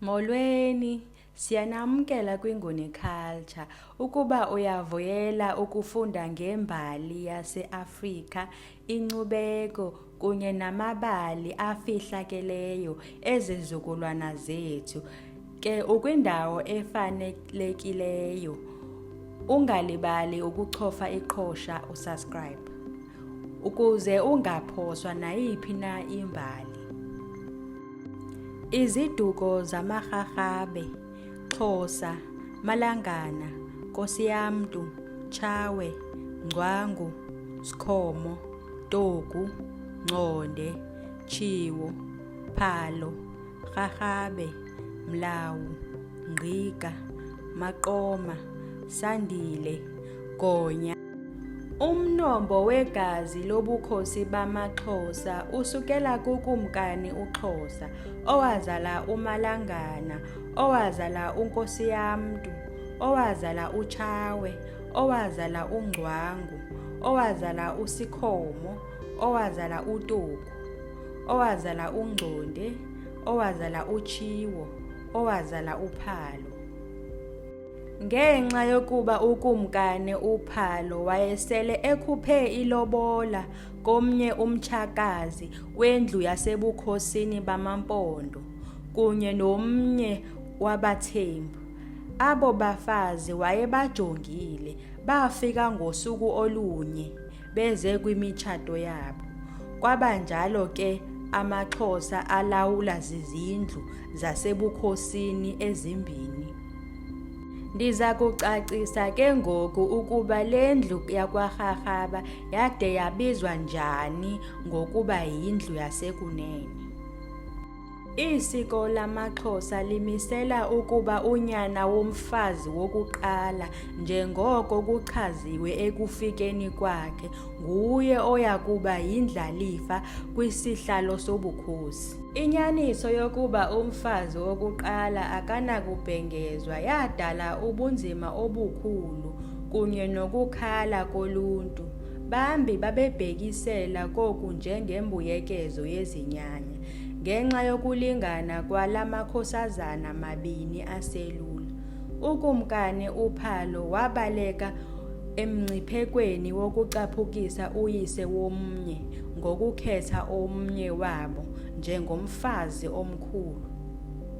Molweni, siyanamkela kwinguni culture. Ukuba uyavuyela ukufunda ngembali yaseAfrika, inkcubeko kunye namabali afihlakeleyo ezizukulwana zethu, ke ukwindawo efanelekileyo. Ungalibali ukuchofa iqhosha usubscribe. ukuze ungaphoswa nayiphi na imbali. Iziduko zamarharhabe, Xhosa, Malangana, Kosiyamntu, Tshawe, Ngcwangu, Sikhomo, Togu, Ngconde, Tshiwo, Phalo, Rharhabe, Mlawu, Ngqiga, Maqoma, Sandile, Gonya. Umnombo wegazi lobukhosi bamaXhosa usukela kuKumkani uXhosa, owazala uMalangana, owazala uNkosiyamntu, owazala uTshawe, owazala uNgcwangu, owazala uSikhomo, owazala uToku, owazala uNgconde, owazala uTshiwo, owazala uPhalo. Ngenxa yokuba uKumkani uPhalo wayesele ekhuphe ilobola komnye umtshakazi wendlu yasebukhosini bamaMpondo kunye nomnye wabaThembu, abo bafazi wayebajongile bafika ngosuku olunye. beze kwimitshato yabo kwaba njalo ke amaxhosa alawula zizindlu zasebukhosini ezimbini ndiza kucacisa ke ngoku ukuba le ndlu yakwarharhaba yade yabizwa njani ngokuba yindlu yasekunene Isiko lamaXhosa limisela ukuba unyana womfazi wokuqala njengoko kuchaziwe ekufikeni kwakhe nguye oya kuba yindlalifa kwisihlalo sobukhosi. Inyaniso yokuba umfazi wokuqala akanakubhengezwa yadala ubunzima obukhulu kunye nokukhala koluntu. Bambi babebhekisela koku njengembuyekezo yezinyanya. Ngenxa yokulingana kwala makhosazana mabini aselula, uKumkani uPhalo wabaleka emngciphekweni wokucaphukisa uyise womnye ngokukhetha omnye wabo njengomfazi omkhulu.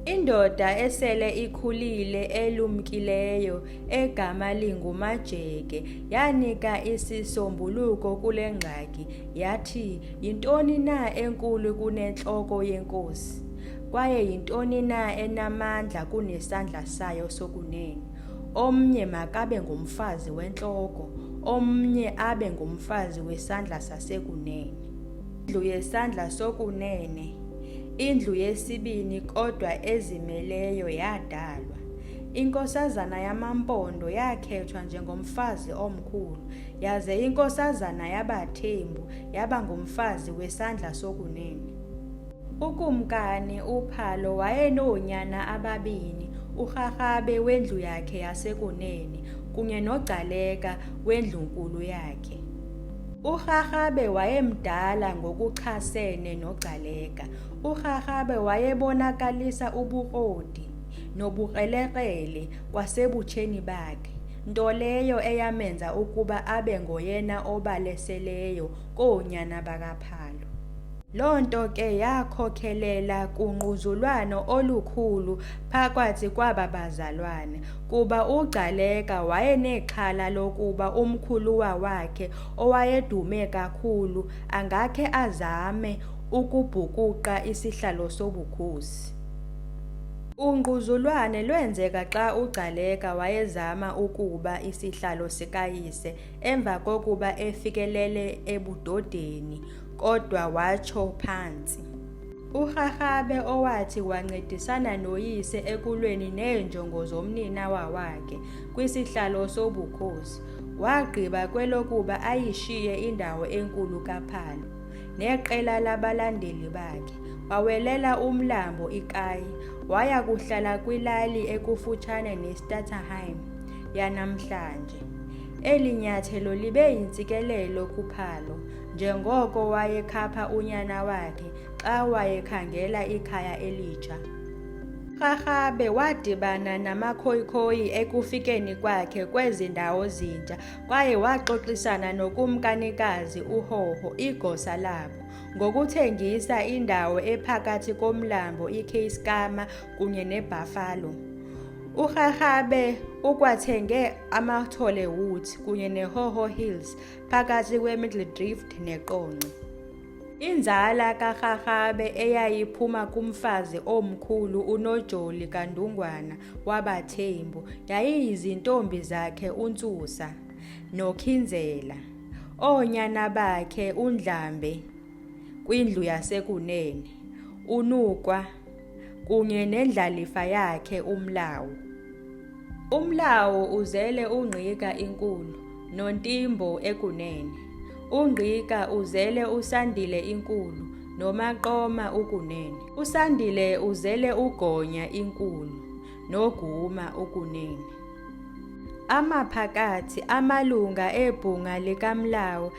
Indoda esele ikhulile elumkileyo egama linguMajeke yanika isisombuluko kule ngxaki Yathi, Yintoni na enkulu kunentloko yenkosi? Kwaye yintoni na enamandla kunesandla sayo sokunene? Omnye makabe ngumfazi wentloko, omnye abe ngumfazi wesandla sasekunene. Indlu yesandla sokunene, indlu yesibini kodwa ezimeleyo yadalwa. Inkosazana yamampondo yakhethwa njengomfazi omkhulu. yaze inkosazana yabathembu yaba ngumfazi wesandla sokunene ukumkani uphalo wayenoonyana ababini urharhabe wendlu yakhe yasekunene kunye nogcaleka wendlunkulu yakhe urharhabe wayemdala ngokuchasene nogcaleka urharhabe wayebonakalisa ubukrodi nobukrelekrele kwasebutsheni bakhe nto leyo eyamenza ukuba abe ngoyena obaleseleyo koonyana bakaphalo Loo nto ke yakhokelela kungquzulwano olukhulu phakathi kwaba bazalwana kuba uGcaleka wayenexhala lokuba umkhuluwa wakhe owayedume kakhulu angakhe azame ukubhukuqa isihlalo sobukhosi. Ungquzulwane lwenzeka xa uGcaleka wayezama ukuba isihlalo sikayise emva kokuba efikelele ebudodeni kodwa watsho phantsi. URharhabe owathi wancedisana noyise ekulweni neenjongo zomninawa wakhe kwisihlalo sobukhosi, wagqiba kwelokuba ayishiye indawo enkulu kaPhalo. neqela labalandeli bakhe wawelela umlambo ikayi waya kuhlala kwilali ekufutshane nestatterheim yanamhlanje eli nyathelo libe yintsikelelo kuphalo njengoko wayekhapha unyana wakhe xa wayekhangela ikhaya elitsha Rharhabe wadibana namakhoyikhoyi ekufikeni kwakhe kwezi ndawo zintsha kwaye waxoxisana nokumkanikazi uHoho igosa labo ngokuthengisa indawo ephakathi komlambo iKeiskama kunye neBuffalo. URharhabe ukwathenge amaThole Woods kunye neHoho Hills phakathi kweMiddle Drift neQonce. Inzala kaRharhabe eyayiphuma kumfazi omkhulu uNojoli kaNdungwana wabaThembu yayiyizintombi zakhe uNtsusa noKhinzela, oonyana bakhe uNdlambe kwindlu yasekunene, uNukwa kunye nendlalifa yakhe umlawu umlawu uzele ungqika inkulu nontimbo ekunene ungqika uzele usandile inkulu nomaqoma ukunene usandile uzele ugonya inkulu noguma ukunene amaphakathi amalunga ebhunga likamlawu